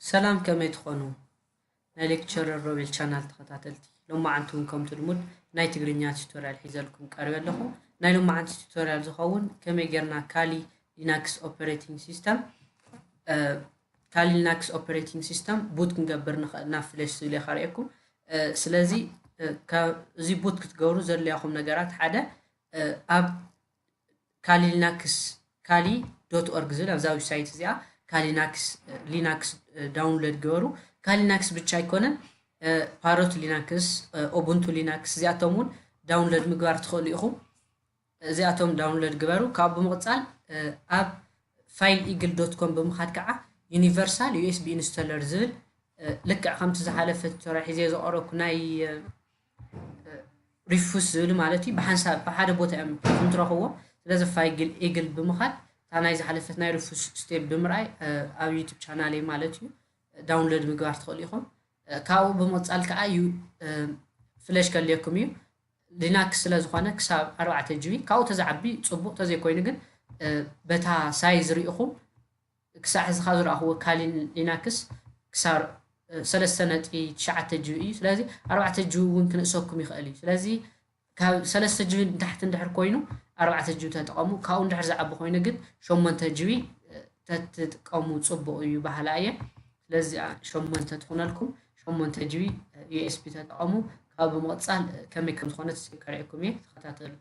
ሰላም ከመይ ትኾኑ ናይ ሌክቸረር ሮቤል ቻናል ተኸታተልቲ ሎማዓንቲ እውን ከምቲ ልሙድ ናይ ትግርኛ ቱቶሪያል ሒዘልኩም ቀርበ ኣለኹ ናይ ሎማዓንቲ ቱቶሪያል ዝኸውን ከመይ ጌርና ካሊ ሊናክስ ኦፐሬቲንግ ሲስተም ካሊ ሊናክስ ኦፐሬቲንግ ሲስተም ቡት ክንገብር ንኽእል ናብ ፍለሽ ዝብል እየ ካርእየኩም ስለዚ እዚ ቡት ክትገብሩ ዘድልያኹም ነገራት ሓደ ኣብ ካሊልናክስ፣ Kali dot org፣ ዝብል ኣብዛ ዊብሳይት እዚኣ ካሊናክስ፣ Linux፣ ዳውንሎድ ግበሩ። ካሊናክስ ብቻ ኣይኮነን፣ ፓሮት ሊናክስ፣ ኡቡንቱ ሊናክስ እዚኣቶም እውን ዳውንሎድ ምግባር ትኽእሉ ኢኹም። እዚኣቶም ዳውንሎድ ግበሩ። ካብኡ ብምቕፃል ኣብ ፋይል ኢግል ዶት ኮም ብምኻድ ከዓ ዩኒቨርሳል ዩኤስቢ ኢንስቶለር ዝብል ልክዕ ከምቲ ዝሓለፈ ቱቶሪያል ሒዘ ዘቕረብኩ ናይ ሪፉስ ዝብል ማለት እዩ ብሓንሳብ ብሓደ ቦታ እዮም ከም ትረኽብዎ ስለዚ ፋይግል ኤግል ብምኻድ እታ ናይ ዝሓለፈት ናይ ሪፉስ ስቴፕ ብምርኣይ ኣብ ዩቱብ ቻናል እዩ ማለት እዩ ዳውንሎድ ምግባር ትኽእሉ ኢኹም ካብኡ ብምቕፃል ከዓ እዩ ፍለሽ ከልየኩም እዩ ሊናክስ ስለ ዝኾነ ክሳብ ኣርባዕተ ጂቢ ካብኡ ተዝዓቢ ፅቡቕ ተዘይኮይኑ ግን በታ ሳይዝ ሪኢኹም ክሳዕ ሕዚ ካብ ዝረኣኹዎ ካሊን ሊናክስ ክሳብ ሰለስተ ነጥቢ ትሽዓተ ጂቢ እዩ ስለዚ ኣርባዕተ ጂቢ እውን ክንእሰኩም ይኽእል እዩ ስለዚ ካብ ሰለስተ ጂቢ ንታሕቲ እንድሕር ኮይኑ ኣርባዕተ ጂቢ ተጠቐሙ ካብኡ እንድሕር ዝዓቢ ኮይኑ ግን ሸሞንተ ጂቢ ተትጥቀሙ ጽቡቕ እዩ በሃላ እየ ስለዚ ሸሞንተ ትኾነልኩም ሸሞንተ ጂቢ ዩኤስቢ ተጠቐሙ ካብ ብምቕጻል ከመይ ከም ዝኾነት ከርእየኩም እየ ተኸታተሉ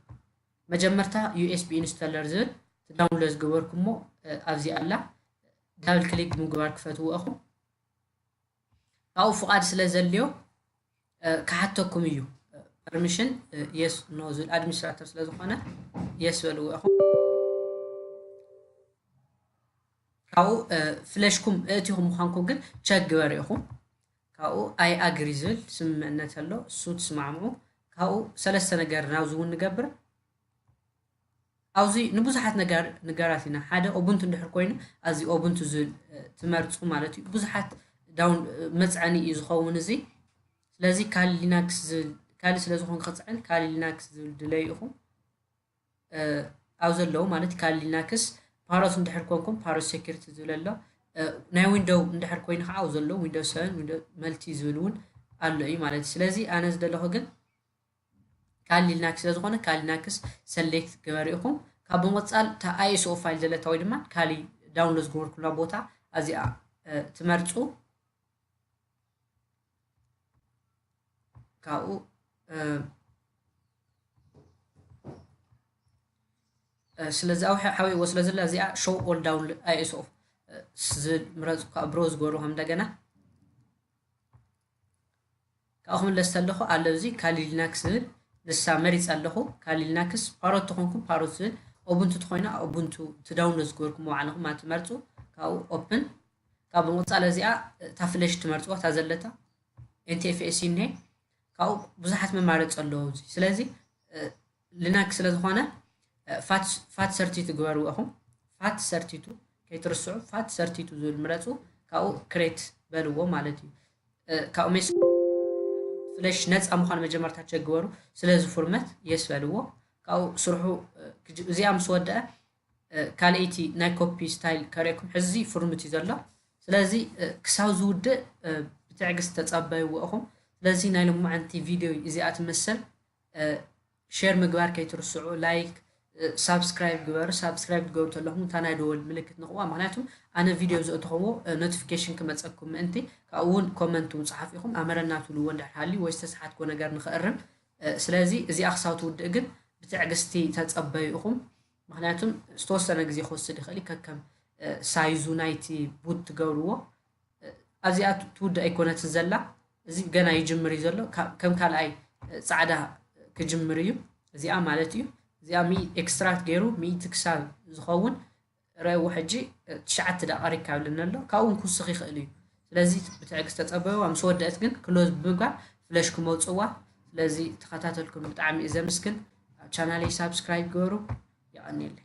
መጀመርታ ዩኤስቢ ኢንስተለር ዝብል እቲ ዳውንሎድ ዝገበርኩሞ ኣብዚኣ ኣላ ዳብል ክሊክ ብምግባር ክፈትዎ እኹም ካብኡ ፍቓድ ስለ ዘድልዮ ክሓተኩም እዩ ፐርሚሽን የስ ኖ ዝብል ኣድሚኒስትራተር ስለ ዝኾነ የስ በልዎ እኹም ካብኡ ፍለሽኩም እእቲኹም ምዃንኩም ግን ቸክ ግበር ኢኹም ካብኡ I agree ዝብል ስምምዕነት ኣሎ እሱ ትስማዕምዑ ካብኡ ሰለስተ ነገር ናብዚ እውን ንገብር ኣብዚ ንብዙሓት ነገር ንገራት ኢና ሓደ ኦቡንቱ እንድሕር ኮይኑ ኣዚ ኦቡንቱ ዝብል ትመርፁ ማለት እዩ ብዙሓት ዳውን መፅዐኒ እዩ ዝኸውን እዚ ስለዚ ካሊ ሊናክስ ዝብል ካሊ ስለ ዝኾን ክፅዕን ካሊ ሊናክስ ዝብል ድለዩ ኢኹም ኣብ ዘለዉ ማለት ካል ሊናክስ ፓሮት እንድሕር ኮንኩም ፓሮት ሴኪሪቲ ዝብል ኣሎ ናይ ዊንዶው እንድሕር ኮይኑ ከዓ ኣብ ዘለዉ ዊንዶው ሰቨን ዊንዶው መልቲ ዝብል እውን ኣሎ እዩ ማለት እዩ ስለዚ ኣነ ዝደለኹ ግን ካል ሊናክስ ስለ ዝኾነ ካል ሊናክስ ሰሌክት ገበሩ ኢኹም ካብ ብምቕፃል እታ ኣይኤስኦ ፋይል ዘለታ ወይ ድማ ካሊ ዳውንሎድ ዝገበርኩላ ቦታ ኣዚኣ ትመርፁ ካብኡ ስለዚ ኣብ ሓዊዎ ስለ ዘላ እዚኣ ሾው ኦል ዳውን ኣይኤስኦ ዝምረፅ እኳ ብሮ ዝገበሩ ከም እንደገና ካብኡ ክምለስ ተለኹ ኣሎ እዚ ካሊ ሊናክስ ዝብል ንሳ መሪፅ ኣለኹ ካሊ ሊናክስ ፓሮት ተኾንኩም ፓሮት ዝብል ኦቡንቱ ተኾይና ኦቡንቱ ትዳውንሎድ ዝገበርኩሞ ባዕልኹም ኣትመርፁ ካብኡ ኦፕን ካብ እንቁጻለ እዚኣ እታ ፍለሽ ትመርጽዋ እታ ዘለታ NTFS እኔ ካብኡ ብዙሓት መማረጺ ኣለዎ እዚ ስለዚ ሊናክስ ስለ ዝኾነ ፋት ፋት ሰርቲቱ ግበርዎ ኢኹም ፋት ሰርቲቱ ከይትርስዑ ፋት ሰርቲቱ ዝብል ምረጹ ካብኡ ክሬት በልዎ ማለት እዩ ካብኡ ሜስ ፍለሽ ነፃ ምዃኑ መጀመርታ ቸክ ግበሩ ስለዚ ፉርመት የስ በልዎ ካብኡ ስርሑ እዚኣ ምስ ወደአ ካልኤይቲ ናይ ኮፒ ስታይል ከርእየኩም ሕዚ ፍርምት እዩ ዘሎ ስለዚ ክሳብ ዝውድእ ብትዕግስት ተጸበይዎ እኹም ስለዚ ናይ ሎማዓንቲ ቪድዮ እዚኣ ትመስል ሼር ምግባር ከይትርስዑ ላይክ ሳብስክራይብ ግበሩ ሳብስክራይብ ትገብሩ ተለኹም እታ ናይ ደወል ምልክት ንኽዋ ምክንያቱ ኣነ ቪድዮ ዘእተኽዎ ኖቲፊኬሽን ክመፀኩም ምእንቲ ካብኡ እውን ኮመንት እውን ፀሓፍ ኢኹም ኣመረና ትብልዎ እንድሕር ሃልዩ ወይ ዝተሰሓትክዎ ነገር ንኽእርም ስለዚ እዚኣ ክሳብ ትውድእ ግን ብትዕግስቲ ተጸበዩ ኢኹም ምክንያቱም ዝተወሰነ ግዜ ክወስድ ይኽእል እዩ ከከም ሳይዙ ናይቲ ቡት ትገብርዎ ኣብዚኣ ትውድእ ኣይኮነትን ዘላ እዚ ገና ይጅምር እዩ ዘሎ ከም ካልኣይ ጻዕዳ ክጅምር እዩ እዚኣ ማለት እዩ እዚኣ ኤክስትራክት ገይሩ ሚእቲ ክሳብ ዝኸውን እረዎ ሕጂ ትሽዓተ ደቂቅ ኣሪግካ ይብለኒ ኣሎ ካብኡ ውን ክውስኽ ይኽእል እዩ ስለዚ ብትዕግስት ተጸበይዋ ምስ ወደእት ግን ክሎዝ ብምግባር ፍለሽ ክመውጽዋ ስለዚ ተኸታተልኩም ብጣዕሚ እየ ዘምስግን ቻናለይ ሳብስክራይብ ግበሩ የቀንየለይ።